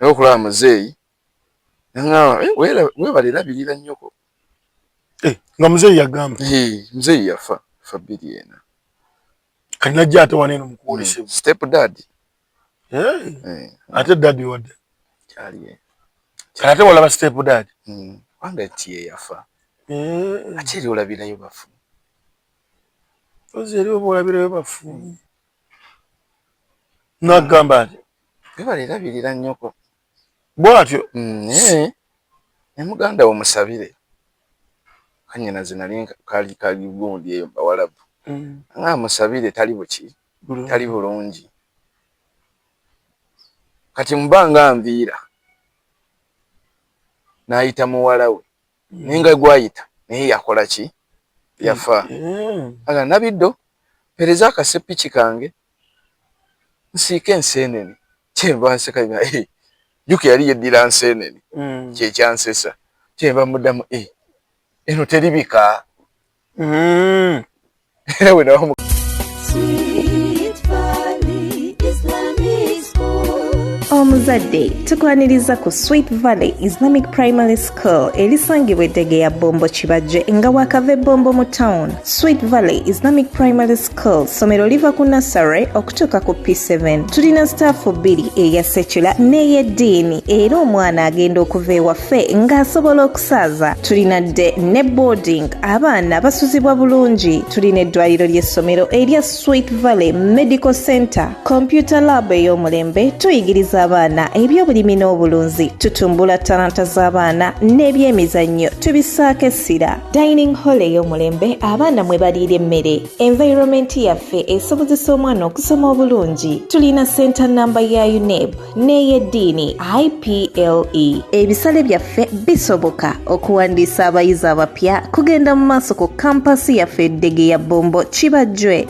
naye okulaba muzeeyi naŋaba eh, webale labirira nnyoko eh, nga muzeeyi yagamba muzeeyi yafa fa bbiri ena kati najja ate waneeno mukuwolesebwa hmm, step dad eh, ate dadi wadde kati ate walaba step dad hmm, kubanga tiye yafa ate eri olabirayo bafu ozi eri oba olabirayo bafu hmm. nagamba nti webale labirira nyoko bwatyo naye mm, ne muganda wo musabire kanyina zinali kali kali gundi eyo bawalabu mm. nga musabire tali buki tali bulungi kati mubanga nviira nayita muwalawe naye nga gwayita naye yakola ki yafa aga nabiddo pereza akasepiki kange nsiike enseenene kyenva nseka nga eh, juka yali yeddira nseenene mm. kyekyansesa kyenva muddamu eh, eno teribika Mm. we know. omuzadde tukwaniriza ku sweet valley islamic primary school erisangibwa eddege ya bombo kibajje nga wakava ebombo mu town sweet valley islamic primary School ssomero liva ku nassary okutuuka ku P7. Tulina sitaafu bbiri eya sekula n'ey'eddiini era omwana agenda okuva ewaffe ng'asobola okusaaza. Tulina dde ne boarding abaana basuzibwa bulungi. Tulina eddwaliro ly'essomero erya Sweet Valley Medical Center, Computer Lab ey'omulembe, tuyigiriza abaana eby'obulimi n'obulunzi, tutumbula talanta z'abaana n'ebyemizannyo tubissaako essira. dining hall ey'omulembe abaana mwe baliira emmere environment yaffe esobozesa omwana okusoma obulungi tulina senta namba ya uneb n'ey'eddiini iple ebisale byaffe bisoboka okuwandiisa abayizi abapya kugenda mu maaso ku kampasi yaffe eddege ya bombo kibajjwe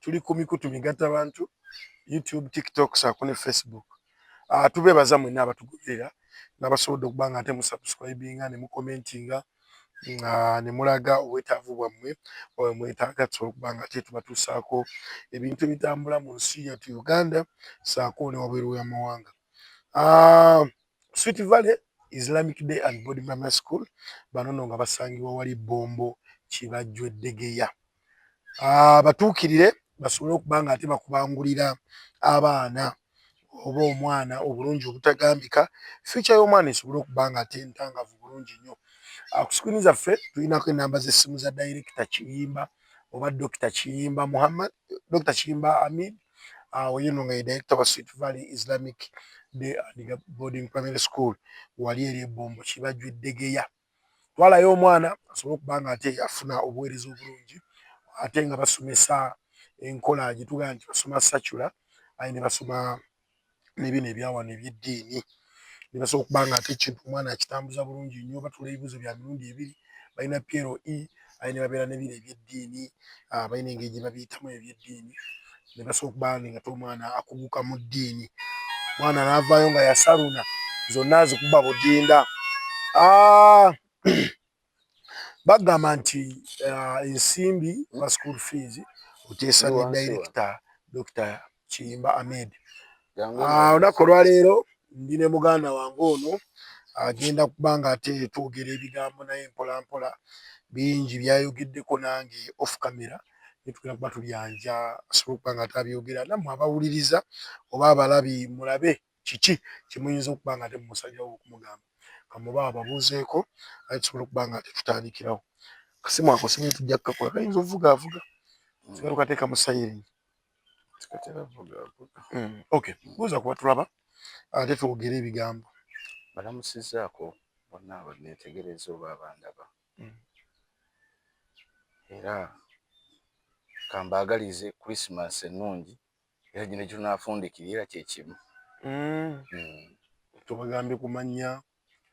tuli ku mikutu migatta bantu youtube tiktok saako ne facebook uh, tubeebaza mwenna abatugoberera nabasobodde okuba nga ate musubscribinga ne mukomentinga nga ah, ne mulaga obwetaavu bwammwe oyo mwetaaga tusobola okuba nga ate tubatuusaako ebintu ebitambula mu nsi yatu uganda saako ne wabweru w'amawanga uh, sweet valley islamic day and body mama school banono nga basangibwa wali bombo kibajjweddegeya abatuukirire basobole okuba nga ate bakubangulira abaana oba omwana obulungi obutagambika fyuca y'omwana esobole okuba nga ate ntangavu bulungi nnyo ah, ku sikwini zaffe tulinako enamba z'essimu za dayirekita kiyimba oba dokita kiyimba muhammad dokita kiyimba amid ah, oyo no nga ye dayirekita wa sweet valley islamic day and boarding primary school wali eri ebombo kibajwa eddegeya twalayo omwana asobole okuba nga ate afuna obuweereza obulungi ate nga basomesa enkola gye tugamba nti basoma sacula aye ne basoma ne bino ebya wano eby'eddiini ne basobola okuba nga ate ekintu omwana akitambuza bulungi nnyo batula ebibuuzo bya mirundi ebiri balina PLE aye ne babeera ne bino eby'eddiini ah, balina engeri gye babiyitamu eby'eddiini ne basobola okuba ng'ate omwana akuguka mu ddiini mwana n'avaayo nga yasaluna zonna azikuba budinda ah, bagamba nti ah, ensimbi ba school fees oteesabye director dr Kiyimba Ahmed. Ah, olunaku olwaleero ndi ne muganda wange ono agenda kuba nga ate twogera ebigambo naye mpolampola bingi byayogeddeko nange off camera netugenda kuba tubyanja asobole okuba nga atabyogera nammwe abawuliriza oba abalabi mulabe kiki kyemuyinza okuba nga ate mumusajja wo okumugamba kamuba ababuuzeeko aye tusobola okuba nga ate tutandikirawo kasimu ako singa tujja kukakola kayinza ovuga avuga tugalukateeka mu sayiringi Mm. Okay, buuza kuba tulaba ate twogere ebigambo. Balamusizaako bonna abanneetegereza oba abandaba mm. era kambaagalize Christmas ennungi era gino gitunaafundikira era kye kimu. Mm. Tubagambye ku mannya?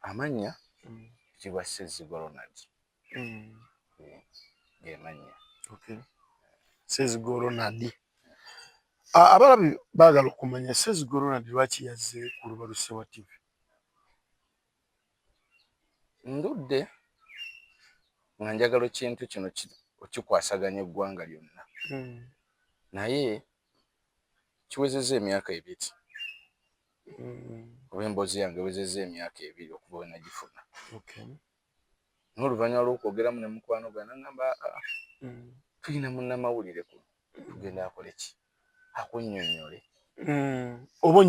Amannya kitiibwa Ssezzigwa Ronald. gemannya okay. sezigoro nadi abalabi baagala okumanya sezigoro nadi lwaki yazze ku lubaluse wa tv ndudde nga njagala ekintu kino okikwasaganya eggwanga lyonna hmm. naye kiwezezza emyaka ebiri hmm. oba emboozi yange ewezezza emyaka ebiri okuba wenagifuna n'oluvannyuma lw'okwogeramu ne mukwano gwe nangamba aa ah, ah, mm. tulina munnamawulire kuno tugenda akole ki akunnyonnyole mm. oba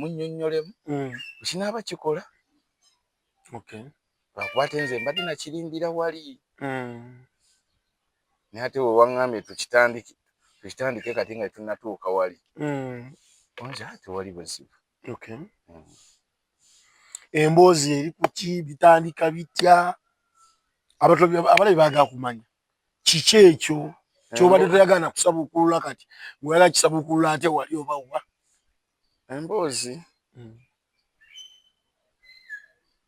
onnyonnyolemu mm. kinaaba kikola lwakuba ate nze mbadde nakirindira wali naye ate wewaŋŋambye tukitandike kati nga tunatuuka wali onza tewali buzibu Okay. Mm. Emboozi eri kuki bitandika bitya abalabi bagala kumanya kiki ekyo kyobadde toyagala kusabukulula kati weyala kisabukulula ate wali oba wa emboozi mm.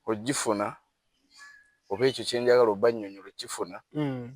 ogifuna oba ekyo kyenjagala obanyonyola okifuna mm.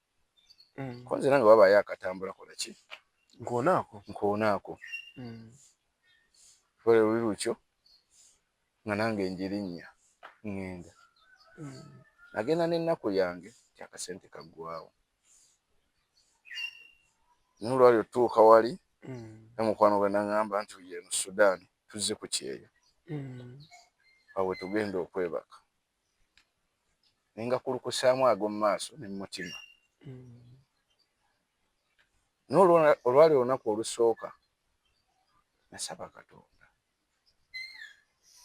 mm. konzera nga wabayo akatambula kola ki nkonaako nkonaako mm. kole luli lukyo nga nange njirinnya ŋŋenda mm. nagenda n'ennaku yange ti akasente kaggwawo naye olwali otuuka wali mm. namukwano gwe naŋŋamba nti uye eno sudaani tuzze ku kyeyo mm. awe tugenda okwebaka ne ngakulukusaamu ag'omu maaso ne mu mutima. Naye olwali olunaku olusooka nasaba Katonda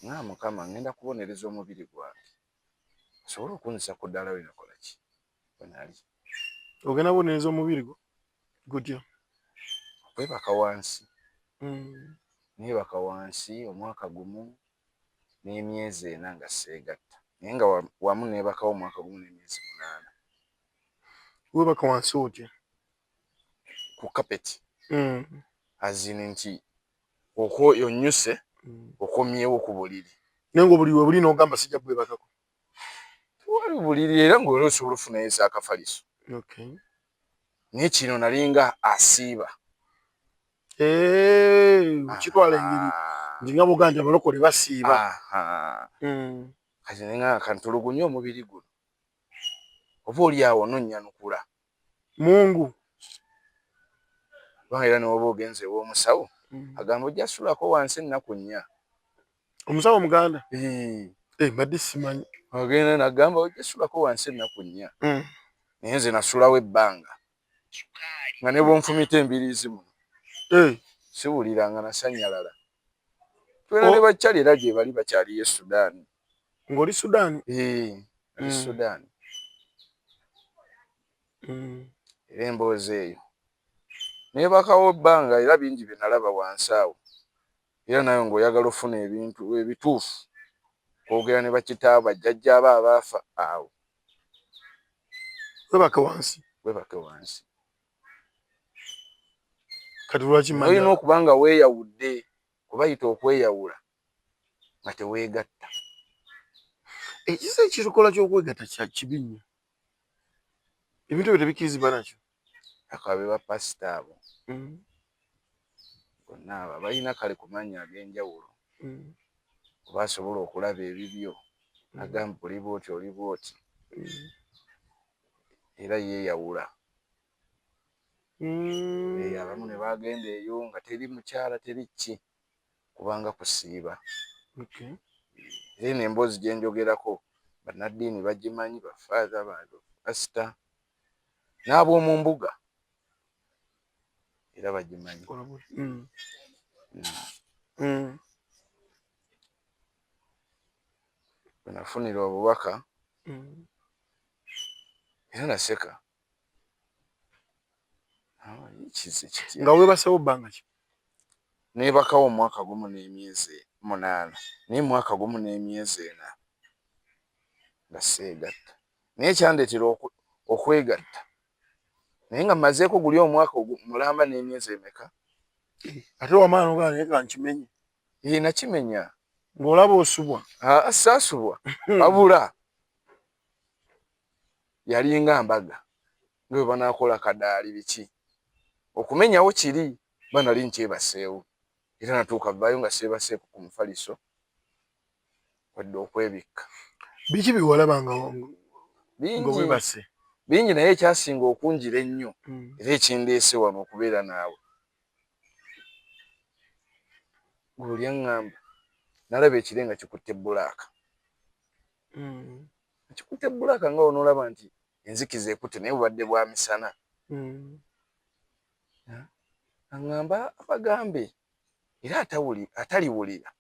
nga Mukama ngenda kubonereza omubiri gwange osobole okunzisa ku ddaala we nakola ki we nali. Ogenda kubonereza omubiri gwo gutya? Okwebaka wansi. Mm. Neebaka wansi omwaka gumu n'emyezi ena nga sseegatta naye nga wamu neebakawo omwaka gumu n'emyezi munaana. Weebaka wansi otya? Ku kapeti azini nti okwo yonnyuse okomyewo ku buliri. Naye ng'obuliri we buli n'ogamba sijja kubwebakako? wali buliri era ng'oli osobola ofunayo ezakafaliso naye kino nalinga asiiba kitwala engeri nti nga boga nti abalokole basiiba hmm. kati nenga kantulugunya omubiri guno oba oli awo nonyanukula mungu kubanga era newoba ogenze ewomusawo mm. agamba ojja sulako wansi ennaku nnya omusawo omuganda eh, mbadde simanyi agenda nagamba ojja sulako wansi ennaku nnya mm. naye nze nasulawo ebbanga nga nebwonfumita embiriizi muno eh. siwulira nga nasanyalala twena ne oh. bakyali era gyebali bakyaliyo e sudaani ngoli sudan eh mm. sudan mm. era emboozi eyo naye bakawo ebbanga era bingi bye nalaba wansi awo era nawe ngaoyagala ofuna ebintu ebituufu kwogera ne bakitaabo ajjajja aba abaafa awo webake wansi webake wansi kati lwaki olina okuba nga weeyawudde kubayita okweyawula nga teweegatta. Ekisa ekikola ky'okwegatta kya kibi nnyo, ebintu ebyo tebikkirizibwa nakyo. Akabe bapasita abo mm. bonna abo abalina kale ku mannya ag'enjawulo mm. oba asobola okulaba ebibyo mm. agamba oli bwoti oli bwoti era yeeyawula abamu ne bagenda eyo nga teri mukyala teri ki kubanga kusiiba era eno emboozi gye njogerako bannaddiini bagimanyi bafaaza bapasita n'ab'omu mbuga era bagimanyi mm. Mm. wenafunira obubaka mm. era naseka ah, nga webasewo bbanga ki Neebakawo omwaka gumu n'emyezi munaana naye mwaka gumu n'emyezi ena nga seegatta naye ekyandeetera okwegatta naye nga mmazeeko guli omwaka mulamba n'emyezi emeka? Ate wamala n'ogamba naye ka nkimenye. Ee nakimenya. Ng'olaba osubwa? Aa saasubwa wabula yalinga mbaga. nga bwe banaakola kadaali biki okumenyawo kiri ba nali nkyebaseewo era natuuka vaayo nga seebaseeko ku mufaliso wadde okwebikka. Biki bye walaba nga webase? Bingi naye ekyasinga okunjira ennyo hmm. era ekindeese wano okubeera naawe gulu lyaŋŋamba nalaba ekire nga kikutte bbulaaka hmm. kikutte bbulaaka nga onolaba nti enzikiza ekute naye bubadde bwa misana hmm. aŋamba abagambe era ataliwulira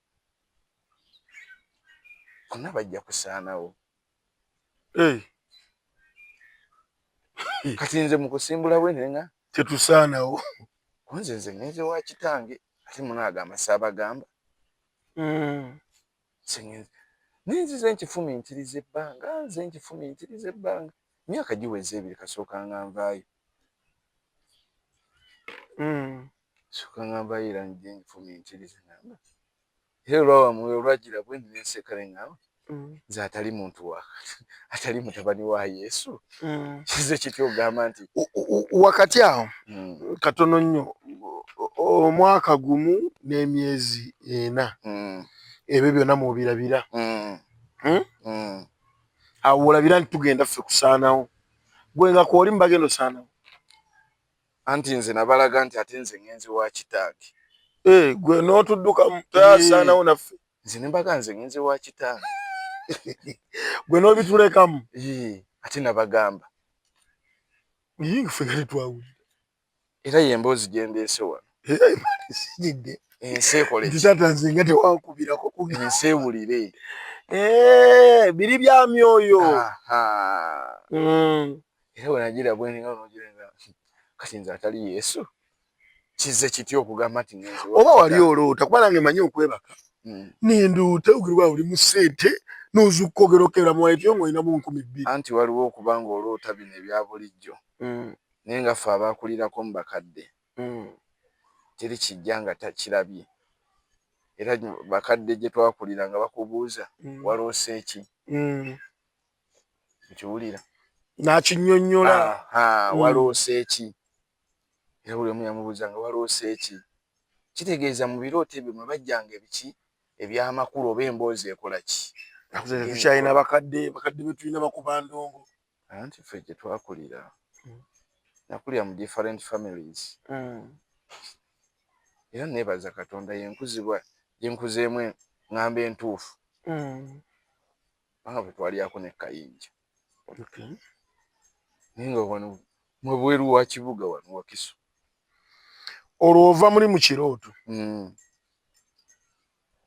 bonna bajja kusaanawo eh. kati nze mukusimbula bwe nenga tetusaanawo kunze nze ngenze wa kitange ate munaagamba saabagamba hmm. naye nzize nkifumiitiriza ebbanga nze nkifumiitiriza ebbanga emyaka giweze ebiri kasooka nga nvaayo hmm. sooka nga nvaayo era nje nkifumiitiriza namba era olwawamuwe olwagira bwe nenseka ne ŋŋamba hmm. nze atali muntu wa atali mutabani wa yesu mm. kize kitya ogamba nti wakati awo mm. katono nnyo omwaka gumu n'emyezi ena mm. ebyo byonna mwobirabira mm. hmm? mm. awo olabira nti tugenda ffe kusaanawo gwe nga kwoli mubagenda osaanawo anti nze nabalaga nti ate nze ngenzi wa kitaage eh, gwe n'otuddukamu tasaanawo naffe nze nembaga nze ngenze wa kitange gwe nobitulekamu ate nabagamba era yemboozi gyendeese wano ensi ekolekisatanze nga tewankubirako ensi ewulire eh, biri bya myoyo mm. era wenagira bweninga nogirenga kati nze atali yesu kize kiti okugamba nti oba wali oloota kuba nange manyi okwebaka hmm. nendoota ogirwa oli mu sente nozuka ogera okebera mu waleti yo ngaolinamu nkumi bbiri anti waliwo okuba nga oloota bino ebya bulijjo hmm. naye nga ffe abakulirako mu bakadde hmm. teri kijja nga takirabye era bakadde gye twakulira nga bakubuuza waloose ki nkiwulira nakinyonyola waloose ki Era buli omu yamubuuza nga waloose ki? Kitegeeza mu birooto ebyo mwe bajjanga ebiki eby'amakulu oba emboozi ekola ki? Nakuze tetukyalina bakadde, bakadde be tulina bakuba ndongo. Anti ffe gye twakulira, hmm. nakulira mu different families. Hmm. Era neebaza Katonda yenkuzibwa gye nkuzeemu eng'ambo entuufu. Hmm. Kubanga bwe twalyako ne kayinja. naye nga wano mwebweru wa kibuga wano wakiso olwo ova muli mu kirooto hmm.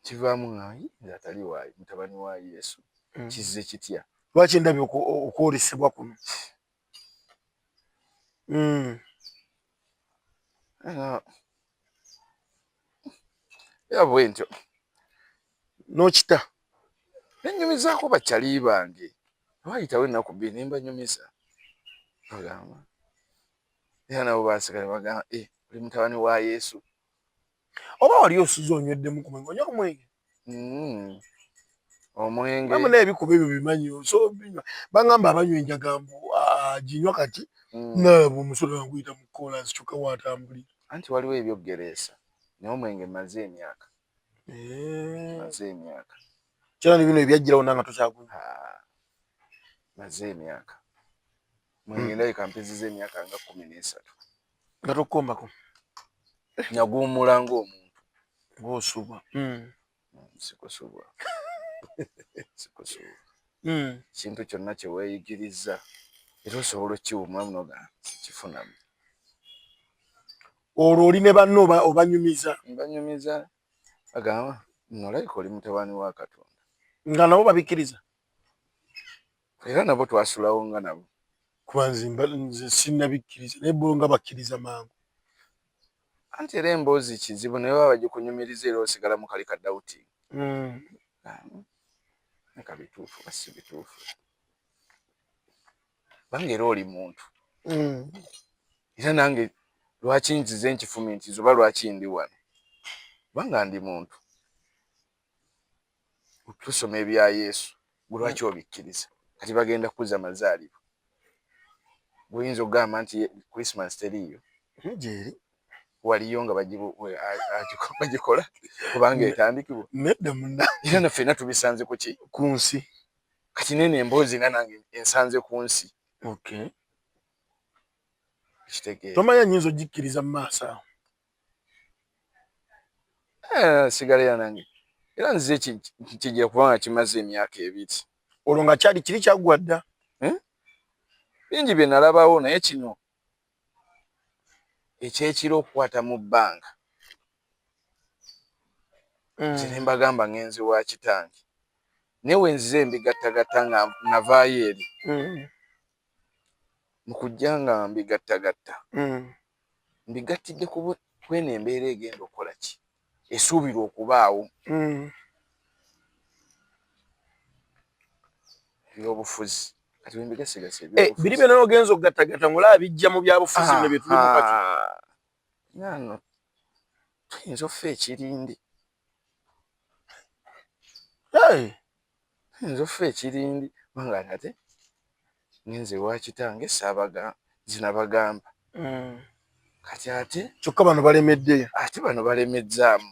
kivaamu ngayi ngaatali waayi mutabani wa yesu hmm. kizze kitya lwaki ndabye okwolesebwa kuno hmm. era bwentyo nokita nenyumizaako bakyali bange wayitawo ennaku bbiri nembanyumiza bagamba era nabo baseka nebagamba e eh, oli mutabani wa yesu oba wali osuze onyweddemu ku mwenge onywa ku mwenge mm. omwenge amuna ebikuba ebyo bimanyi so binywa bangamba abanywa enjaga mbu aginywa ah, kati mm. nabo omusolo naguyita mu kolansi kyokka watambuli anti waliwo ebyoggereesa naye omwenge maze emyaka eh. maze emyaka kyona ni bino ebyajjirawo nanga tokyagunywa ah, maze emyaka mwenge hmm. ndabika mpeziza emyaka nga kumi n'esatu nga tokombako nyaguwumula ngaomuntu ngaosubwa hmm. sikusubwa sikusubwa hmm. kintu kyonna kyeweyigiriza era osobola okiwumulamu noga sikifunamu olwo oli ne banno obanyumiza banyumiza agamba nolaika oli mutabani wa katonda nga nabo babikkiriza era nabo twasulawo nga nabo kuba nze sinnabikkiriza naye bo nga bakkiriza mangu anti era emboozi kizibu naye baba bagikunyumiriza era osigala mu kali kadawuti hmm. kabituufu basi bituufu bange era oli muntu hmm. era nange lwaki nzize nkifumintiza oba lwaki ndi wano kubanga ndi muntu tusoma ebya yesu gwe lwaki hmm. obikkiriza kati bagenda kuza mazaalibwa guyinza okugamba nti christmas teriiyo hmm, gyeri waliyo nga bagikola kubanga etandikibwa nedda muna era na ffena tubisanze kuki ku nsi kati nene emboozi nga nange ensanze ku nsi tomanya nyinza ogikkiriza mu maaso awo Eh, sigala era nange era nze kigira kuba nga kimaze emyaka ebiri olwo nga kyali kiri kyaggwa dda eh? bingi bye nalabawo naye kino ekyekiro okukwata mu bbanga mm. nze nembagamba ngenzi wa kitange naye wenzize mbigattagatta nga navaayo eri mm. mu kujja nga mbigattagatta mbigattidde ku eno embeera egenda okukola ki esuubirwa okubaawo ebyobufuzi kati bembigasigasa eh, biri byona ogenza okugattagatta ngaolaba bijja mu byabufuzi bino byetulimu kati nano tuyinza ofa ekirindi nze offa ekirindi banga nate ninze wakitange sabaga zinabagamba mm. kati ate kyokka bano balemedde ate bano balemezzaamu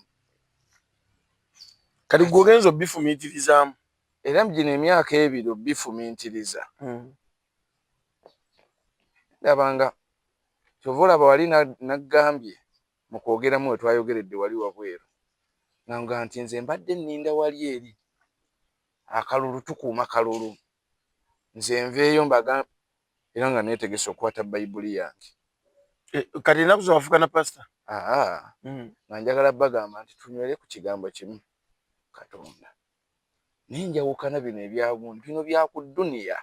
kati gwe ogenza obifumiitirizaamu era mugino emyaka ebiri obifumiitiriza mm. ndabanga kyova olaba wali naggambye Mu kwogeramu we twayogeredde wali wabweru ng'angamba nti, Nze mbadde nninda wali eri akalulu, tukuuma kalulu, nze nveeyo mbagambe era nga neetegese okukwata Bayibuli yange. Kati ennaku zino wafuuka na pasita? Haa, nga njagala bbagamba nti tunywere ku kigambo kimu, Katonda. Naye njawukana bino ebya gundi, bino bya ku dduniya,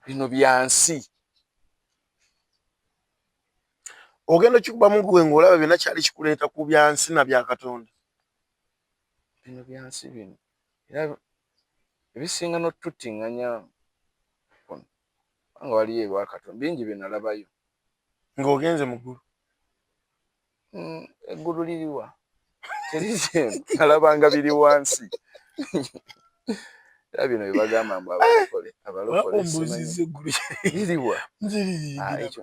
bino bya nsi. ogenda okikubamu gwe ng'olaba byonna kyali kikuleeta ku byansi na bya katonda bino byansi bino era ebisinga n'otuttinganya kuno kubanga waliyo ebwa katonda bingi bye nalabayo ng'ogenze mu ggulu Hmm, eggulu liriwa terizemu alabanga biri wansi era bino byebagamba mbu abalokole abalokoliwa ah, ekyo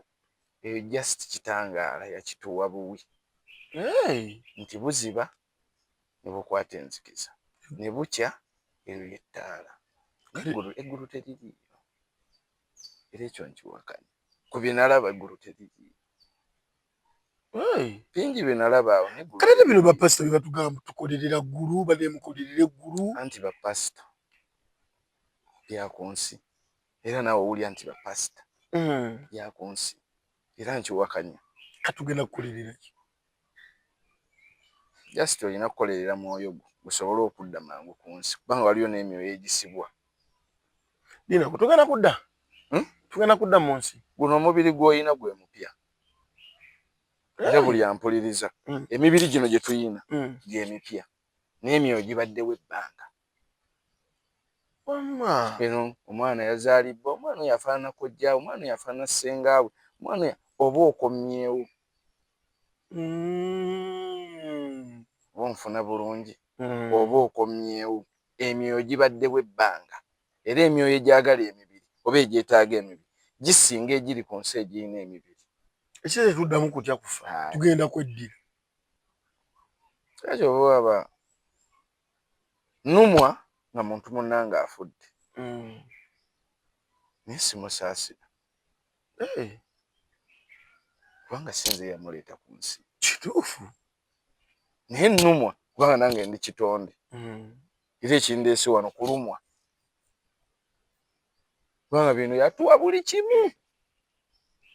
eyo just kitangaala yakituwa buwi nti buziba nebukwata enzikiza nebukya eryo yettaala eggulu teririyo era ekyo nkiwakanya ku byenalaba eggulu teririyo bingi bye nalaba awo kale ne bino bapasita bye batugamba tukolerera ggulu bane mukolerera eggulu anti bapasita bya ku nsi era naawe owulira nti bapasita hmm. bya ku nsi era nkiwakanya katugenda kukolerera ki just olina kukolerera mwoyo gwo gusobole okudda mangu ku nsi kubanga waliyo n'emyoyo egisibwa dina kutugenda kudda hmm? tugenda kudda mu nsi guno omubiri gw'olina gwe mupya era buli ampuliriza mm. emibiri gino gye tuyina mm. gyemipya n'emyoyo gibaddewo ebbanga eno omwana yazalibbwa omwana oyo afaanana kojjaawe omwana oyo afaanana ssengaawe omwana oyo oba okomyewo mm. oba onfuna bulungi oba okomyewo emyoyo gibaddewo ebbanga era emyoyo egyagala emibiri oba egyetaaga emibiri gisinga egiri ku nsi egirina emibiri. Ekyo tetuddamu kutya kufa, tugenda kweddira. Era kyova olaba nnumwa nga muntu munnange afudde naye simusaasira kubanga si nze eyamuleeta ku nsi. Kituufu. Naye nnumwa kubanga nange ndi kitonde. era ekindeese wano kulumwa kubanga bino yatuwa buli kimu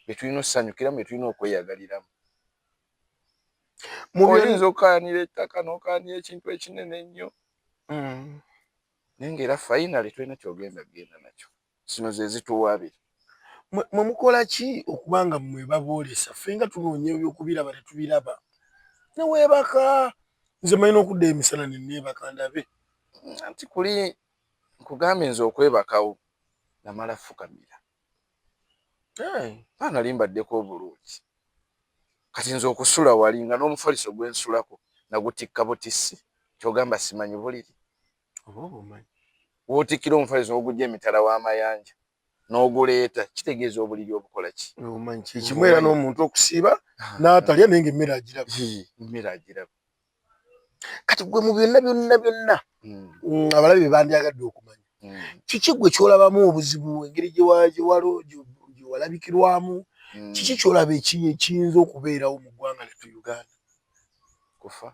byetulina okusanyukiramu byetulina okweyagaliramu oyinza okukayanira ettaka nokayanira ekintu ekinene ennyo mm. naye ngaera fainale tolina kyogenda kugenda nakyo zino ze zituwaabira. Mmwe mukola ki okuba nga mmwe baboolesa? Ffe nga tunoonya eby'okubiraba tetubiraba. Ne weebaka, nze mmanyi n'okuddayo emisana ne nneebaka ndabe. Anti kuli nkugambye nze okwebakawo namala fukamira. Hey. Mba nali mbaddeko obulungi. Kati nze okusula wali nga n'omufaliso gwe nsulako nagutikka butissi ky'ogamba simanyi buliri? oba obumanyi wotikkira omufaliso ogujja emitala w'amayanja n'oguleeta kitegeeza obuliri obukola ki obumanyi kyekimu era n'omuntu okusiiba n'atalya naye nga emmere agiraba emmere agiraba kati gwe mu byonna byonna byonna hmm. abalabi be bandyagadde okumanya hmm. kiki gwe kyolabamu obuzibu engeri gyewalabikirwamu hmm. kiki kyolaba ekiyinza okubeerawo mu ggwanga lyettu uganda kufa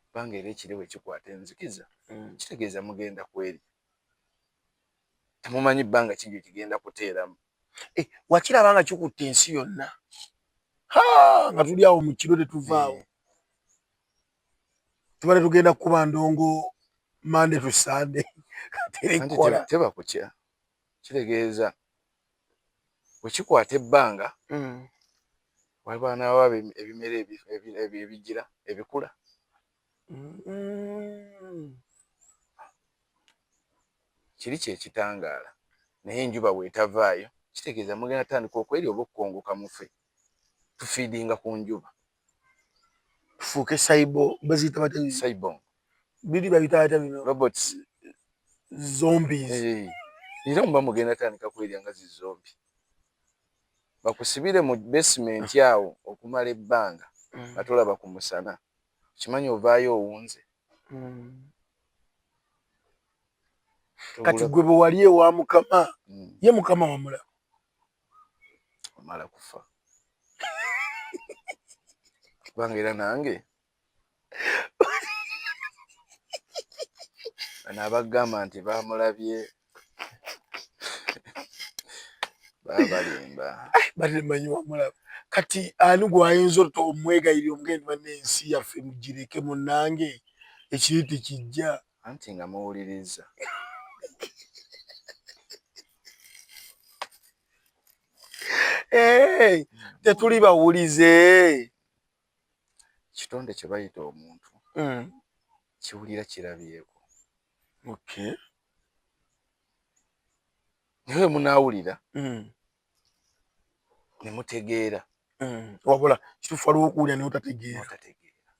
kubanga era ekire bwe kikwata enzikiza mm. kitegeeza mugenda kweri temumanyi bbanga ki gye kigenda kuteeramu eh, wakiraba nga kikutte ensi yonna nga tuli awo mu kiro tetuvaawo eh. tubale tugenda kukuba ndongo mande tu sande terekola teba kutya kitegeeza bwekikwata ebbanga mm. waliba nawa ebimera ebigira ebikula mm. kiri kyekitangaala naye enjuba bwetavaayo kitegeeza mugenda tandika okweri oba okukongoka mufe tufiidinga ku njuba tufuuke saibo baziyita bata saibo biri babita bata bino robots zombies hey. Eh. era muba mugenda tandika kwerya nga zizombi bakusibire mu basement awo okumala ebbanga mm. nga tolaba ku musana kimanyi ovaayo owunze mm. kati gwe bwewali ewa mukama mm. ye mukama wamulaba omala kufa kubanga era nange bano abagamba nti bamulabye babalimba balimanyi wamulaba kati ani gwayinza ota omwegayirira omugendo banne ensi yaffe mugireke munange ekiri tekijja anti nga muwuliriza hey, tetuli bawulize kitonde kye bayita omuntu mm. kiwulira kirabyeko okay. naye munawulira mm. nemutegeera mm. wabula kitufu waliwo okuwulira naye otategeera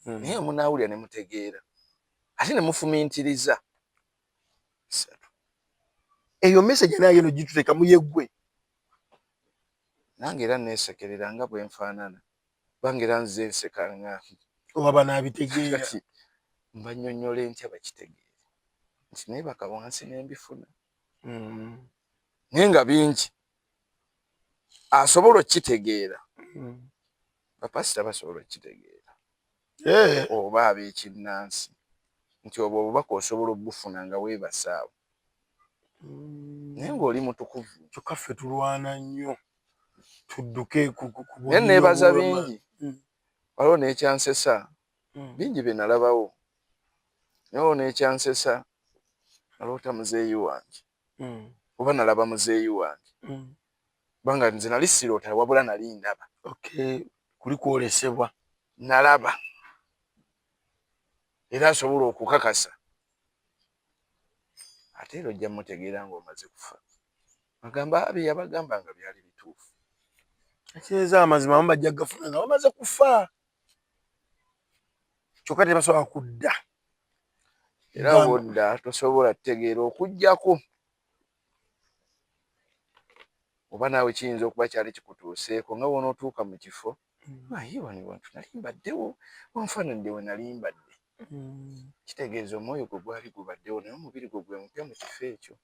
mm. naye munawulira nemutegeera ate nemufumintiriza bisatu eyo message naye yeno gituteka muyegwe nange era nesekerera nga bwenfaanana bange era nze nseka nga oba banabitegeera mbanyonyole ntya bakitegeere nti nebaka wansi nembifuna mm. naye nga bingi asobola okukitegeera mm. bapasita basobola okukitegeera eh. oba ab'ekinnansi nti obwo obubaka osobola okubufuna nga weebase awo mm. naye ng'oli mutukuvu kyokka ffe tulwana nnyo tudduke naye neebaza bingi mm. waliwo n'ekyansesa mm. bingi bye nalabawo naye waliwo n'ekyansesa naloota muzeeyi wange oba nalaba muzeeyi wange Kubanga nze nali siroota wabula nali ndaba. Okay kuli kwolesebwa. Nalaba era nsobola okukakasa ate era ojja mutegeera nga omaze kufa agamba bye yabagamba nga byali bituufu ekitegeeza amazima amu bajja kugafuna nga bamaze kufa kyokka tebasobola kudda era wodda tosobola kutegeera okujjako oba naawe kiyinza okuba kyali kikutuuseeko nga wonootuuka mu kifo mm. aye wano wantu nali mbaddewo wanfaananidde we nali mbadde mm. kitegeeza omwoyo gwe gwali gubaddewo naye omubiri gwe gwe mupya mu kifo ekyo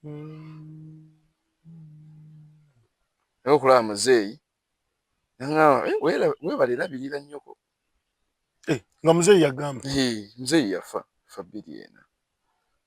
mm. naye okulaba muzeeyi naŋaa eh, webale labirira nnyoko eh, nga muzeeyi yagamba eh, muzeeyi yafa fa bbiri ena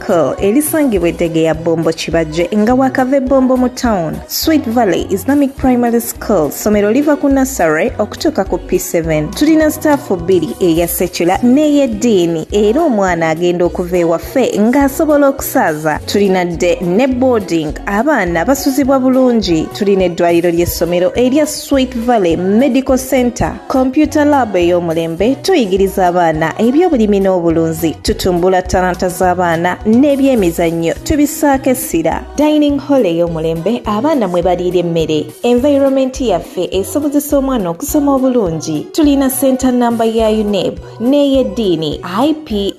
Circle elisangibwa eddege ya Bombo Kibajje nga wakava ebbombo mu town. Sweet Valley Islamic Primary School somero liva ku nursery okutuuka ku P7. Tulina staafu bbiri eya sekula n'ey'eddiini era omwana agenda okuva ewaffe ng'asobola okusaaza. Tulina dde ne boarding abaana basuzibwa bulungi. Tulina eddwaliro ly'essomero erya Sweet Valley Medical Center Computer Lab ey'omulembe tuyigiriza abaana eby'obulimi n'obulunzi, tutumbula talanta z'abaana n'ebyemizannyo tubisaako essira. Dining Hall ey'omulembe abaana mwe baliira emmere. Environment yaffe esobozesa omwana okusoma obulungi. Tulina ssenta nnamba ya UNEB. n'ey'eddiini iple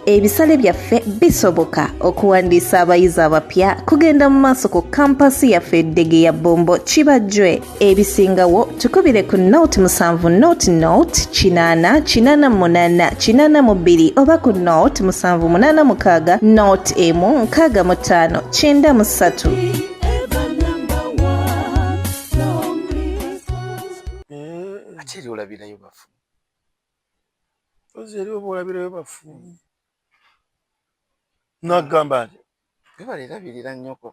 ebisale byaffe bisoboka okuwandiisa abayizi abapya kugenda mu maaso ku kampasi yaffe eddege ya bombo kibajjwe ebisingawo tukubire ku not musanvu not not kinaana kinaana munaana kinaana mu bbiri oba ku not musanvu munaana mukaaga not emu nkaaga mu ttaano kyenda mu ssatu Mpozzi eriwo boolabirayo bafu. Hmm. Nagamba nti webale erabirira nnyoko.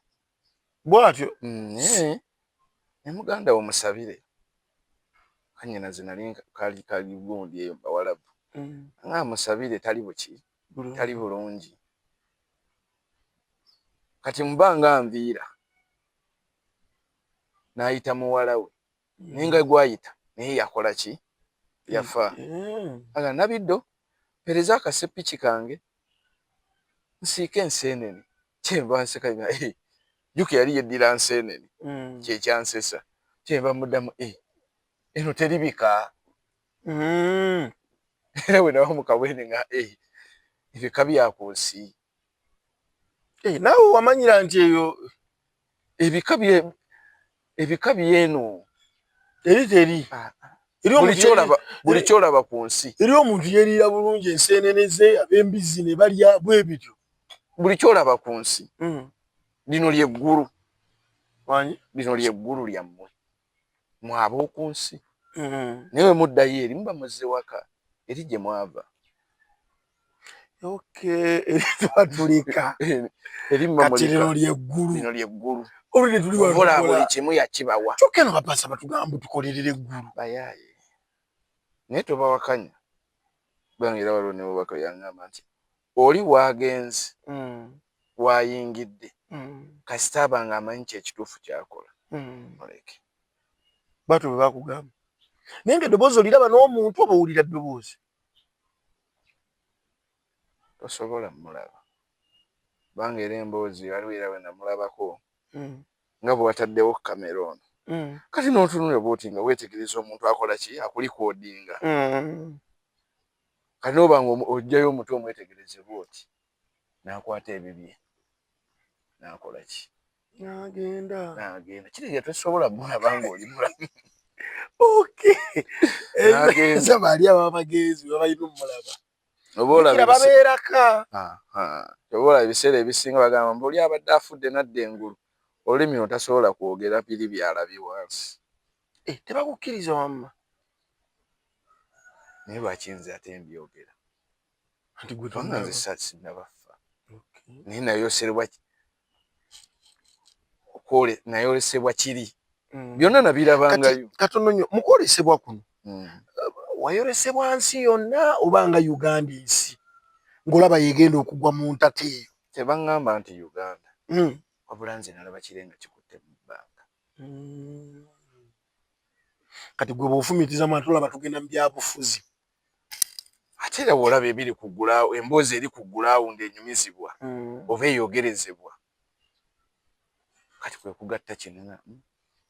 Bwatyo. Hmm, eh. Ne muganda wo musabire. Kanyina zinali kali kali gundi eyo bawalabu. Hmm. Nga musabire tali buki. Tali bulungi. Kati mubanga nviira. Naayita muwala we. mm. naye nga gwayita naye yakola ki yafa mm. aga nabiddo pereza akasepiki kange nsiika enseenene kyenva nseka nga eh, juka yali yeddira nseenene mm. kyekyansesa kyenva muddamu e eh, eno teribika era wenawa mukabwene nga e eh, ebika byakunsi Hey, eh, naawe wamanyira nti eyo ebika bye ebika byeno eri teri ah, ah. buli kyolaba ku nsi eri omuntu yeriira bulungi enseenene ze ab'embizzi ne balya bwe bityo buli kyolaba ku nsi hmm. lino lyeggulu lino lyeggulu lyammwe mwe ab'oku nsi mm-hmm. naye bwe muddayo eri muba muzze waka eri gye mwava twatulika katirino lyeggulu olwedde tuli buli kimu yakibawa kyokka eno bapasa batugamba tukolerera eggulu bayaaye naye tobawakanya bangera waliwo newobaka yangamba nti Oli w'agenze, w'ayingidde, kasita aba ng'amanyi kyo ekituufu ky'akola, muleke. Bw'atyo bwe bakugamba. Naye ng'eddoboozi oliraba n'omuntu oba owulira ddoboozi. Tosobola mmulaba. Kubanga era emboozi waliwo era we namulabako nga bwe wataddewo kkamera ono. Kati n'otunula bw'oti nga weetegereza omuntu akola ki, akulikoodinga. Kati n'oba nga oggyayo omuti omwetegereze bw'oti, n'akwata ebibye n'akola ki? N'agenda. N'agenda. Kitegeeza tosobola mulaba ng'oli mulamu. Okay. N'agenda. Baali abo abagezi baba balina omulaba. Oba olaba babeeraka. Oba olaba ebiseera ebisinga bagamba mbu oli abadde afudde n'adda engulu, olulimi luno tasobola kwogera biri by'alabye wansi. Eh, tebakukkiriza wamma naye lwaki nze ate mbyogera anti gwe tanga nze sasinabaffa naye nayoserebwa okwole nayolesebwa kiri mm. byonna nabirabangayo katono nyo mukwolesebwa kuno mm. wayolesebwa nsi yonna obanga uganda ensi ngaolaba yegenda okugwa mu ntata eyo tebaŋŋamba nti uganda mm. wabula nze nalaba kirenga kikutte mu bbanga Mm. kati gwe bwofumitiza mwana tolaba tugenda mu byabufuzi ate era bwolaba ebiri ku gulaawo emboozi eri ku gulawundi enyumizibwa mm. oba eyogerezebwa kati kwe kugatta kinna mm.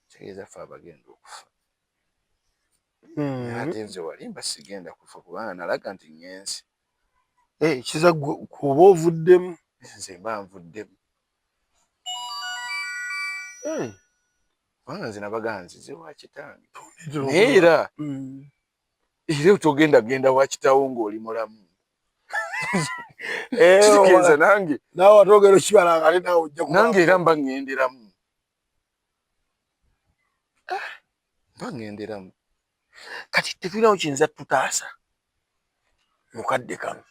kitegeeza fe abagenda okufa mm. ate nze walimba sigenda kufa kubanga nalaga nti ngenzi eh, kiza kuba ovuddemu nze mba nvuddemu Hmm. kubanga nze nabaganzi ze wakitange naye era hmm. era otogenda genda wakitawo ng'oli mulamu eh, nange nange era mba ŋŋenderamu ah, bangenderamu kati tetulinawo kiyinza tutaasa mukadde kano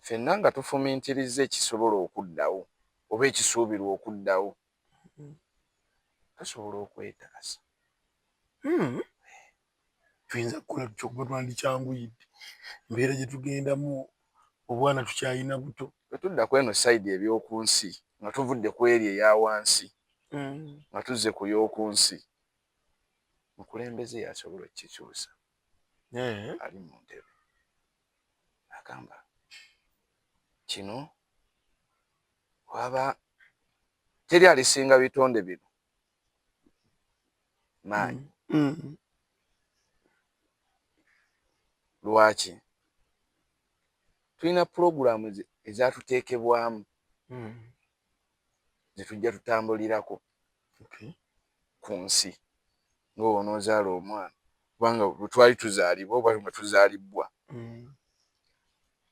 fenna nga tufumintiriza ekisobola okuddawo oba ekisuubirwa okuddawo tusobola okwetaasa hmm. tuyinza kukola tutya okuba twandikyanguyidde embeera gye tugendamu obwana tukyalina buto bwe tudda ku eno sayidi eby'oku nsi nga tuvudde ku eri eya wansi mm. nga tuzze ku y'oku nsi mukulembeze yasobola okukikyusa ali mu ntebe agamba kino waba teri alisinga bitonde bino maanyi mm, mm. lwaki tulina pulogulaamu ezatuteekebwamu mm. zetujja tutambulirako okay. ku nsi ngaoba onoozaala omwana kubanga bwetwali tuzaalibwa oba nga tuzaalibbwa mm.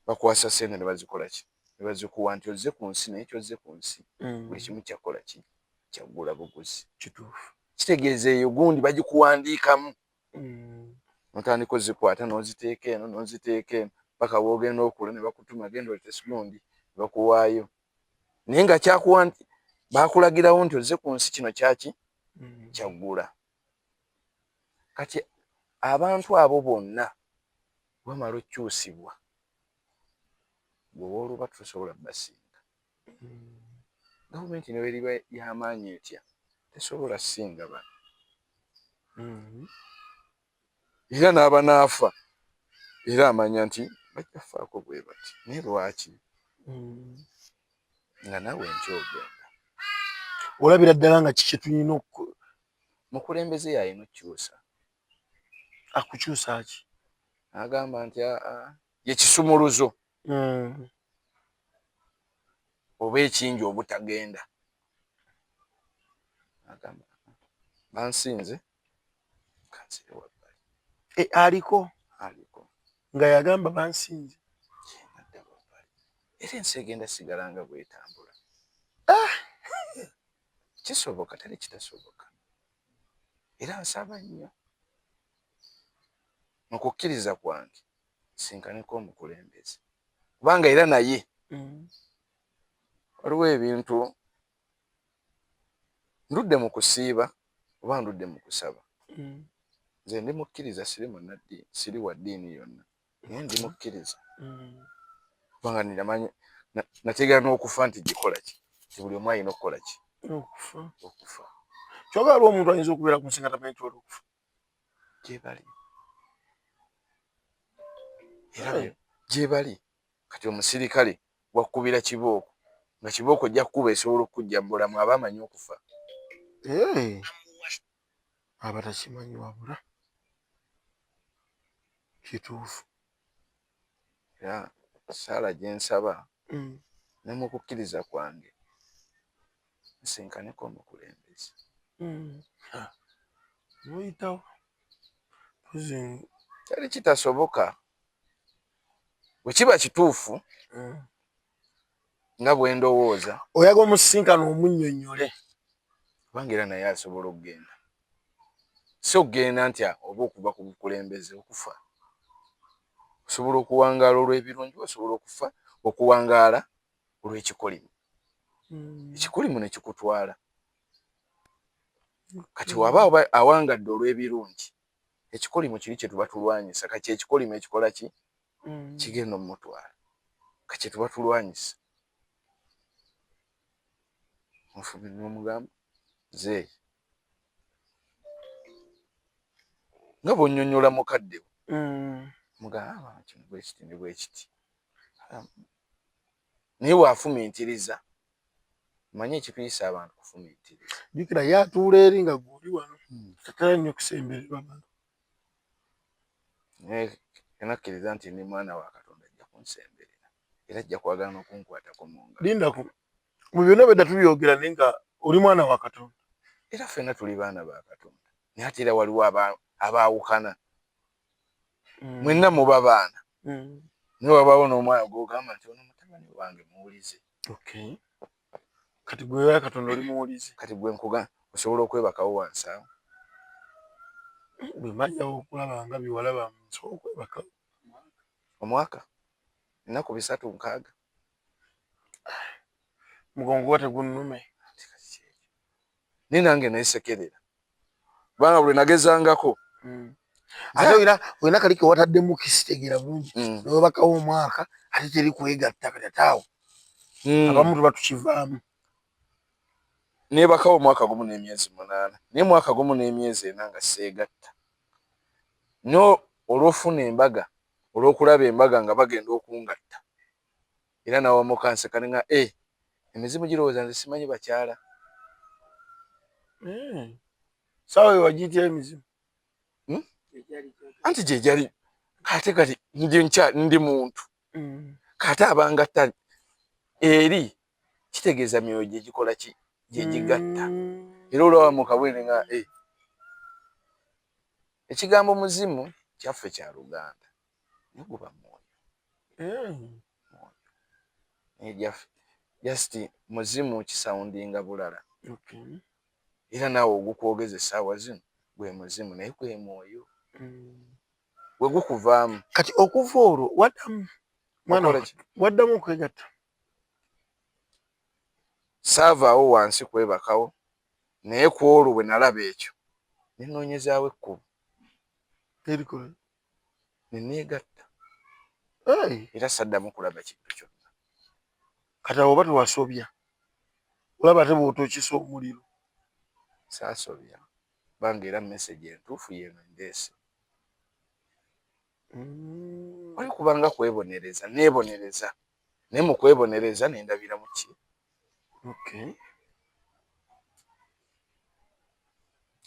bakwasa sente ne bazikolaki nebazikuwa nti ozze ku nsi naye kyozze ku nsi mm. buli kimu kyakola ki kyaggula buguzi kituufu kitegeeza eyo gundi bagikuwandiikamu mm. notandika ozikwata noziteeka eno noziteeka eno paka wogenda okula nebakutuma genda olete silundi nebakuwaayo naye nga kyakuwa nti bakulagirawo nti ozze ku nsi kino kyaki mm. kyaggula kati abantu abo bonna wamala okyusibwa gwe wooluba tosobola basinga gavumenti neweriba yamaanyi etya tesobola singa ba mm-hmm. era n'abanaafa era amanya nti bajja kufaako bwe bati naye lwaki mm-hmm. nga nawe nkyogenda olabira ddala nga kiki tulina mukulembeze yalina okukyusa akukyusa ki agamba nti ye kisumuluzo hmm. oba ekingi obutagenda agamba bansinze kansire wabbali e, aliko aliko nga yagamba bansinze nadda wabbali era ensi egenda sigala nga bwetambula ah! kisoboka teri kitasoboka era nsaba nnyo mu kukkiriza kwange nsinkaneko omukulembeze kubanga era naye mm. waliwo ebintu ndudde mu kusiiba oba ndudde mu kusaba mm. nze ndi mukkiriza siri munaddiini siri wa ddiini yonna naye ndi mukkiriza mm. kubanga ninamanyi nategeera n'okufa nti gikola ki ti buli omu alina okukola ki okufa okufa kyoga aliwo omuntu ayinza okubeera ku nsinga tamanyi nti wali okufa gyebali era gyebali kati omusirikale wakukubira kibooko nga kibooko ojja kukuba esobola okukujja mu bulamu aba amanyi okufa eh. abatakimanyi wabula kituufu era saala gyensaba mm. ne mu kukkiriza kwange nsinkaneko omukulembeze mm. noyitawo teri kitasoboka bwekiba kituufu mm. nga bwe ndowooza. Oyaga omusisinkane omunnyonnyole. Kubanga era naye asobola okugenda. Si okugenda nti oba okuva ku bukulembeze, okufa. Osobola okuwangaala olw'ebirungi, osobola okufa, okuwangaala olw'ekikolimo. Hmm. Ekikolimo ne kikutwala. Kati waba awangadde olw'ebirungi, ekikolimo kiri kye tuba tulwanyisa. Kati ekikolimo ekikola ki? mm. kigenda omumutwala kakyetuba tulwanyisa mufubi nomugamba zeeyi nga bwonyonyola mukadde mm. mugamba ah, kino bwekiti ne bwekiti naye wafumintiriza manye ekituyisa abantu kufumintiriza jukira yatuula eri nga guli wano hmm. tatala nnyo kusembererwa naye enakkiriza nti ndi mwana wa katonda ajja kunsemberera era ajja kwagala nokunkwatako munga lindako mu byonna bwedda tubyogera naye nga oli mwana wa katonda era ffenna tuli baana ba katonda naye ate era waliwo abaawukana mm. mwenna muba baana mm. naye wabaawo n'omwana gwogamba nti ono mutabani wange muwulize kati gwe ya katonda oli muwulizi kati gwe nkuga osobola okwebakawo wansi awo bwemajjawo okulaba nga biwalaba nsobola okwebakawo omwaka ennaku bisatu nkaaga mugongo wa tegunnume naye nange nesekerera kubanga buli nagezangako hmm. ate olina olina kali ke wataddemu kisitegera bulungi hmm. newebakawo omwaka ate teri kwegatta kati ate awo hmm. abamu tuba tukivaamu nebakawo omwaka gumu n'emyezi munaana naye mwaka gumu n'emyezi ena nga seegatta nyo olwofuna embaga olwokulaba embaga nga bagenda okungatta Era nawamu kanseka ne nga eh emizimu girowooza nze simanyi bakyala. Eeh sawa eyo wagiyitira emizimu hmm? anti gyegyali kate kati ndi nkya ndi muntu mm. kate abangatta eri kitegeeza myoyo gyegikola ki gyegigatta mm. era olaba mukabwene nga eh. ekigambo muzimu kyaffe kya luganda naye guba mwoyo eh, mwoyo naye jaffe just muzimu kisaundinga bulala era naawe ogukwogeza essaawa zino gwe muzimu naye gwe mwoyo mm. gwe gukuvaamu kati okuva olwo waddamu mwana waddamu okwegatta saavaawo wansi kwebakawo naye ku olwo bwe nalaba ekyo nenoonyezaawo ekkubo ne neegatta era saddamu kulaba kintu kyonna kati awo oba tewasobya olaba ate bwotokisa omuliro saasobya kubanga era message entuufu yeeno ndeese mm. wali kubanga kwebonereza neebonereza naye mu kwebonereza ne ndabiramu ki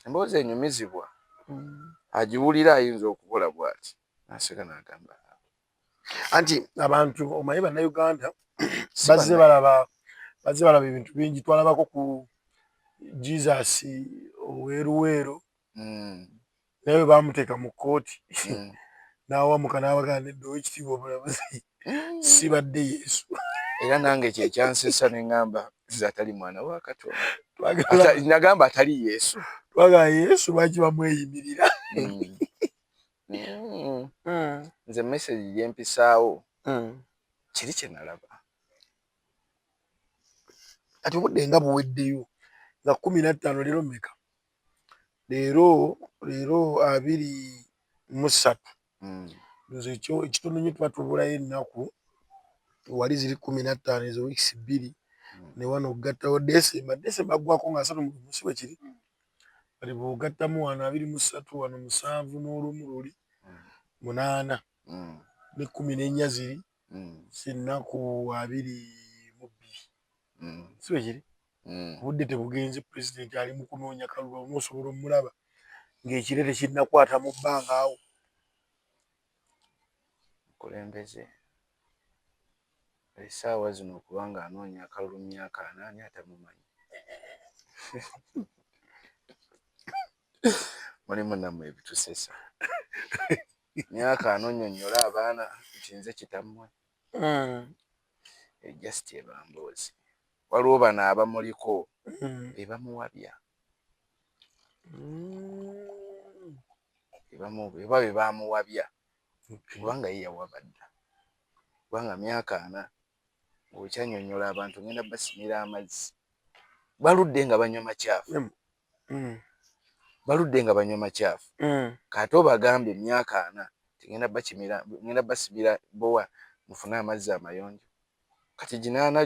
emboozi enyumizibwa mm. agiwulira ayinza okukola bwati naseka nagamba anti abantu omanyi bannayuganda bazze balaba bazze balaba ebintu bingi twalabako ku jesus oweruweero mm. naye bwe baamuteeka mu kkooti hmm. n'awamuka n'abagaa nedda owekitiibwa omulamuzi hmm. sibadde yesu era nange kyekyansesa ne ŋŋamba nze atali mwana wa katonda nagamba atali yesu twagala yesu lwaki bamweyimirira hmm. nze mesagi gyempisaawo kiri kye nalaba kati obudde nga buweddeyo nga kumi nattaano leero meka leero leero abiri musatu hmm. nze ekyo ekitono nyo tuba tubulayo ennaku wali ziri kumi nattaano ezo wiikisi bbiri hmm. ne wano okugattawo desemba desemba aggwako nga asatu musi bwe kiri hmm. kati bw'ogattamu wano abiri musatu wano musanvu n'olumu luli munaana ne kumi n'ennya ziri sinnaku abiri mu bbiri si bwe kiri obudde tebugenze pulezidenti ali mu kunoonya kalulu omu osobola omulaba ng'ekire tekinnakwata mu bbanga awo kulembeze esaawa zino kubanga anoonya akalulu myaka anaani atamumanyi mulimu namwe ebitusesa myaka anonyonyola abaana nti nze kitamwe hmm. eh, just ebamboozi waliwo bano abamuliko hmm. bebamuwabya eba bebamuwabya kubanga ye yawabadda kubanga myaka ana okyanyonyola abantu ngenda basimira amazzi baludde nga banywa makyafu mm. mm. baludde nga banywa makyafu mm. kati obagamba emyaka ana tigenda bakimira ngenda basimira bowa mufune amazzi amayonjo kati ginaana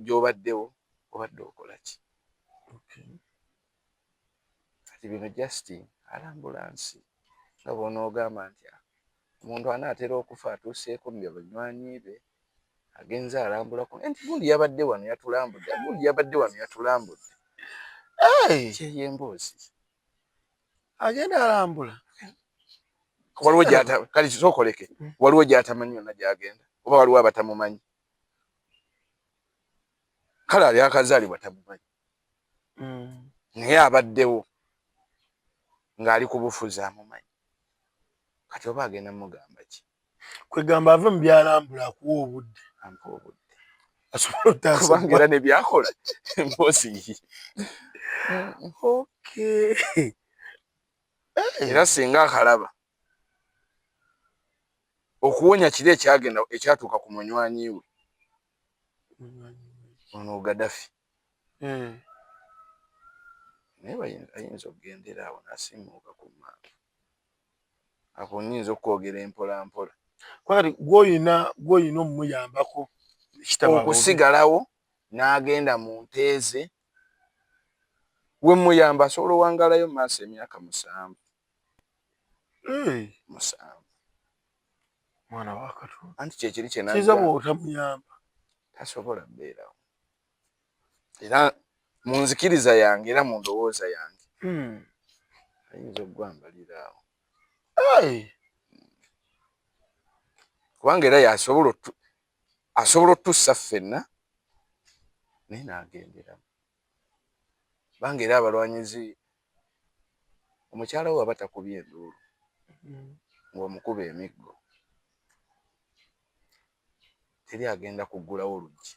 gyobaddewo obadde okolaki okay. kati bino just alambula nsi nga bw'onoogamba nti omuntu anaatera okufa atuuseeko mu banywanyi be agenze alambulako nti gundi yabadde wano yatulambudde gundi yabadde wano yatulambudde kyeyo emboozi agenda alambula waliwo kale kisokoleke hmm. waliwo gyatamanyi yonna gyagenda oba waliwo abatamumanyi kale ali akazaalibwa tamumanyi mm. naye abaddewo ng'ali kubufuzi amumanyi kati oba agenda mugamba ki kwegamba ave mu byalambula akuwa obudde ampa obudde asobola otasaera nebyakola mpozi era singa akalaba okuwonya kiri ekyagenda ekyatuuka ku munywanyi we ono gadafi naye ayinza okugendera awo nasimuuka ku maaka ako nyinza okwogera empolampola kwali gwoyina gwoyina omuyambako okusigalawo n'agenda mu nteeze we muyamba asobola owangalayo mu maaso emyaka musanvu musanvu mwana wakati anti kyekiri kyenakiza bwotamuyamba tasobola kubeerawo era mu nzikiriza yange era mu ndowooza yange hmm. ayinza okugwambaliraawo kubanga era yasobola asobola otussa ffenna naye naagenderamu kubanga era abalwanyizi omukyala we waba takubye enduulu hmm. ng'omukuba emiggo teri agenda kuggulawo luggi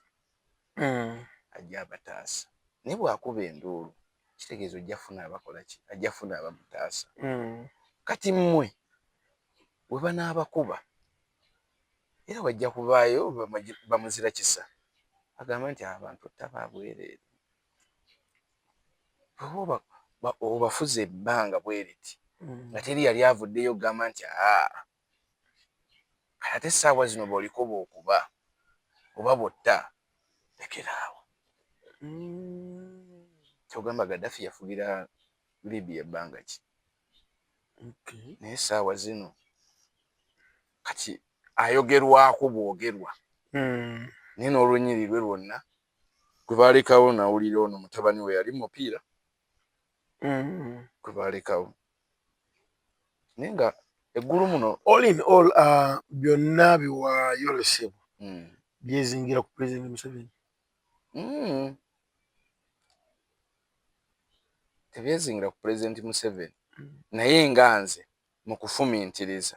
mm. ajja abataasa naye bwakuba enduulu kitegeeza ojja funa abakola ki ajja funa abamutaasa mm. kati mmwe we banaabakuba era wajja kubaayo bamuzira kisa agamba nti abantu ttaba abwereere oba obafuza ebbanga bweriti mm. nga teri yali avuddeyo okugamba nti aa kati ate saawa zino boliko bokuba oba botta lekeraawo kyogamba gadafi yafugira libya ebbanga ki naye saawa zino kati ayogerwako bwogerwa hmm. naye nolwenyiri lwe lwonna gwebalekawo nawulira ono mutabani we yali mupiira hmm. gwebalekawo naye nga eggulu muno all in all uh, byonna biwaayo lesebo mm. byezingira ku president museveni mm. tebyezingira ku president museveni mm. naye nga nze mu kufumintiriza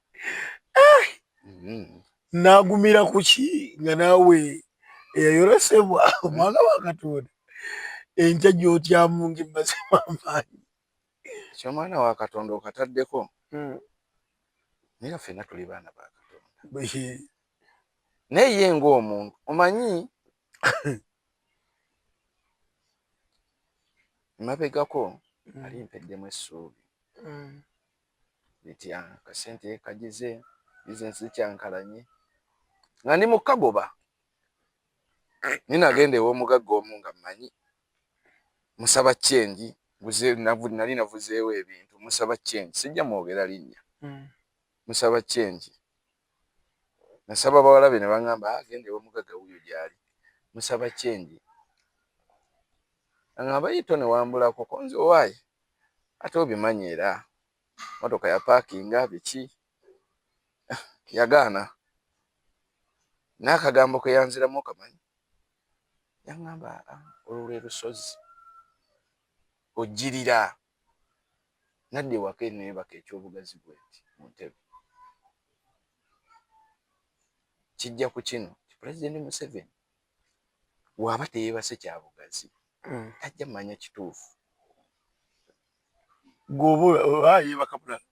Eh! Mm-hmm. nagumira kuki nga naawe eyayoresebwa omwana wa katonda enkya gyotyamu ngemazimu amaanyi ekyo omwana wa katonda okataddeko hmm. naye fena tuli baana ba katonda naye ye ngaomuntu omanyi mabegako hmm. ali mpeddemu essuubi hmm. bitya akasente kagize bizinesi zikyankalanye nga ndi mu kagoba naye nagenda ew'omugagga omu nga mmanyi musaba kyengi buze nali navuzeewo ebintu musaba kyengi sijja mwogera linnya hmm. musaba kyengi nasaba bawala be nebangamba ah genda ewamugaga wuyo gyali musaba change nangamba yii tone wambulako konze owaye ate obimanyi era motoka ya pakinga biki yagaana naye akagambo keyanziramu okamanyi yangamba ah olwo lwelusozi ojjirira. Nadda ewaka eno yebaka ekyobugazi bwenti mu ntebe. Kijja ku kino nti Pulezidenti Museveni waba teyebase kya bugazi hmm. tajja manya kituufu. Gwoba oba yebaka bulala.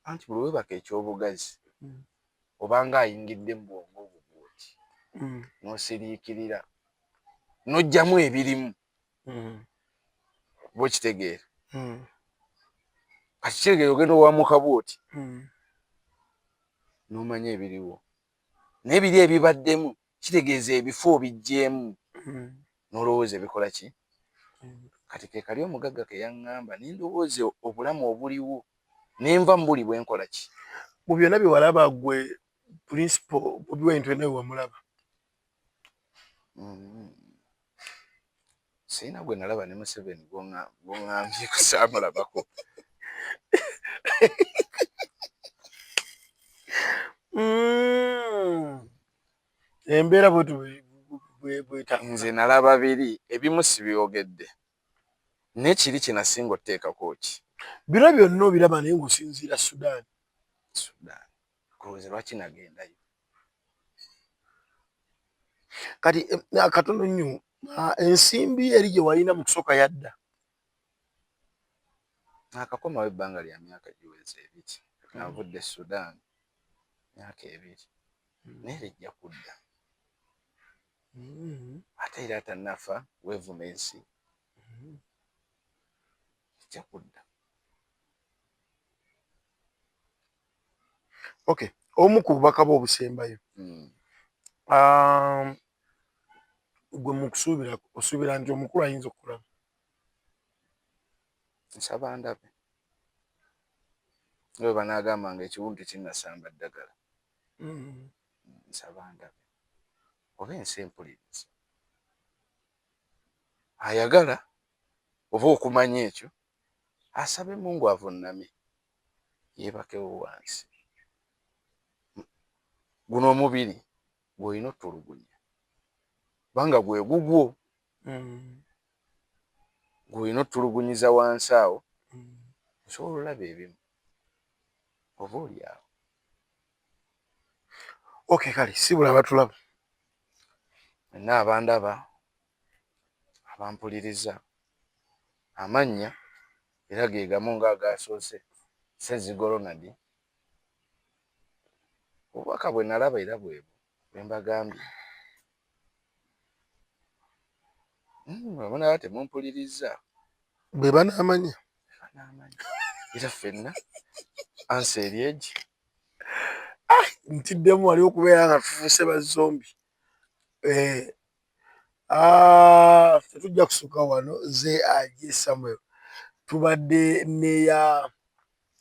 Anti buli webaka ekyobugazi hmm. obanga ayingidde mu bwongo obwo bwoti hmm. nosiriikirira nojjamu ebirimu. mm. bwekitegeera mm. kati kiregere ogenda owamuka bwoti mm. nomanya ebiriwo naye biri ebibaddemu kitegeeza ebifo obijjeemu mm. nolowooza ebikola ki mm. kati kekali omugagga keyaŋŋamba nendowooza obulamu obuliwo nenva mubuli bwenkola ki mu byonna byewalaba gwe principal obiwa entu enawe wamulaba Mm. Sirina gwe nalaba ne Museveni gwongambye kusaamulabako. Mm. Embeera bwe nze nalaba biri ebimu sibyogedde naye kiri kinasinga oteekako ki bino byonna obiraba naye ngaosinziira sudan sudan nze lwaki nagendayo kati akatono eh, nnyo ah, ensimbi eri gye walina mu kusooka yadda akakomawo ebbanga lya myaka giweze ebiri navudde e sudan myaka ebiri hmm. naye lijja kudda hmm. ate era atanafa wevuma ensi hmm. lijja kudda ok omu ku bubaka bwe obusembayo hmm. um, gwe mukusuubira osuubira nti omukulu ayinza okukulaba nsaba ndabe nga bwe banaagamba nga ekiwundu tekinnasamba ddagala hmm. nsaba ndabe oba ensi empuliriza ayagala oba okumanya ekyo asabe mungu avunname yeebakewo wansi. Guno omubiri gw'olina otulugunya kubanga gwe gugwo mm. gw'olina otulugunyiza wansi awo mm. osobola olaba ebimu oba oli awo okay kale sibula abatulaba nina abandaba abampuliriza. Amannya era ge gamu ng'agaasoose, Ssezigo Ronald. Obubaka bwe nalaba era bwe bwe mbagambye. Bwe munaaba temumpuliriza. Bwe banaamanya. Bwe banaamanya. Era ffenna ansa eri egi. Ah, ntiddemu wali okubeera nga tufuuse ba zombi. Eh. Ah, ffe tujja kusukka wano nze aje samuel tubadde neya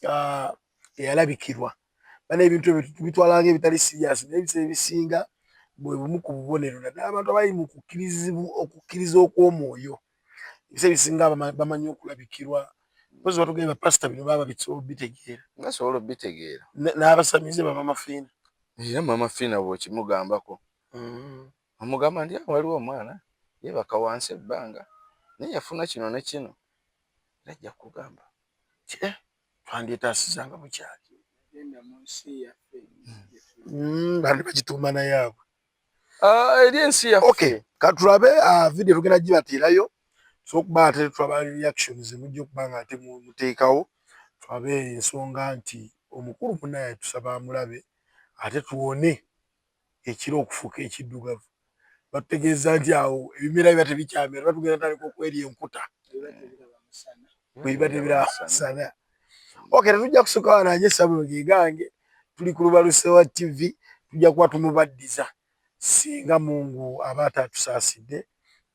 ah, eyalabikirwa bana ebintu ebyo tubitwalanga ebitali siriyasi naye ebiseera ebisinga bwe bumu ku bubonero naddala abantu abali mu kukkirizibu okukkiriza okw'omwoyo ebiseera ebisinga bama- bamanyi okulabikirwa mpozi batugambye bapasita bino baba bisobola obitegeera nga sobola obitegeera N- n'abasamize baba mafiina era mama fiina bwokimugambako Mm. Omugamba ndi awo waliwo omwana yebaka wansi ebbanga naye yafuna kino ne kino era ajja kugamba ti eh twandyetasiza nga bukyali hmm, bandi bagituuma naye abwe ah, eri ensi yaffe okay katulabe ah, video tugenda gibateerayo sokuba ate tulaba reaction zemujja okuba nga ate muteekawo tulabe ensonga nti omukulu munaye tusaba amulabe ate tuwone ekire okufuuka ekiddugavu batutegeezza nti awo ebimera biba tebikyamera oba tugenda tandika okwerya enkuta bwebiba tebiraba musana ok tetujja kusuka wananye sabulo gegange tuli ku lubalusewa tv tujja kuba tumubaddiza singa mungu aba ataatusaasidde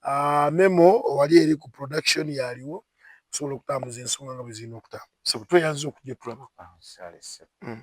ah, memo wali eri ku production yaliwo okusobola okutambuza ensonga nga bwe zirina okutambuza tweyanza okujja tulaba ah, hmm.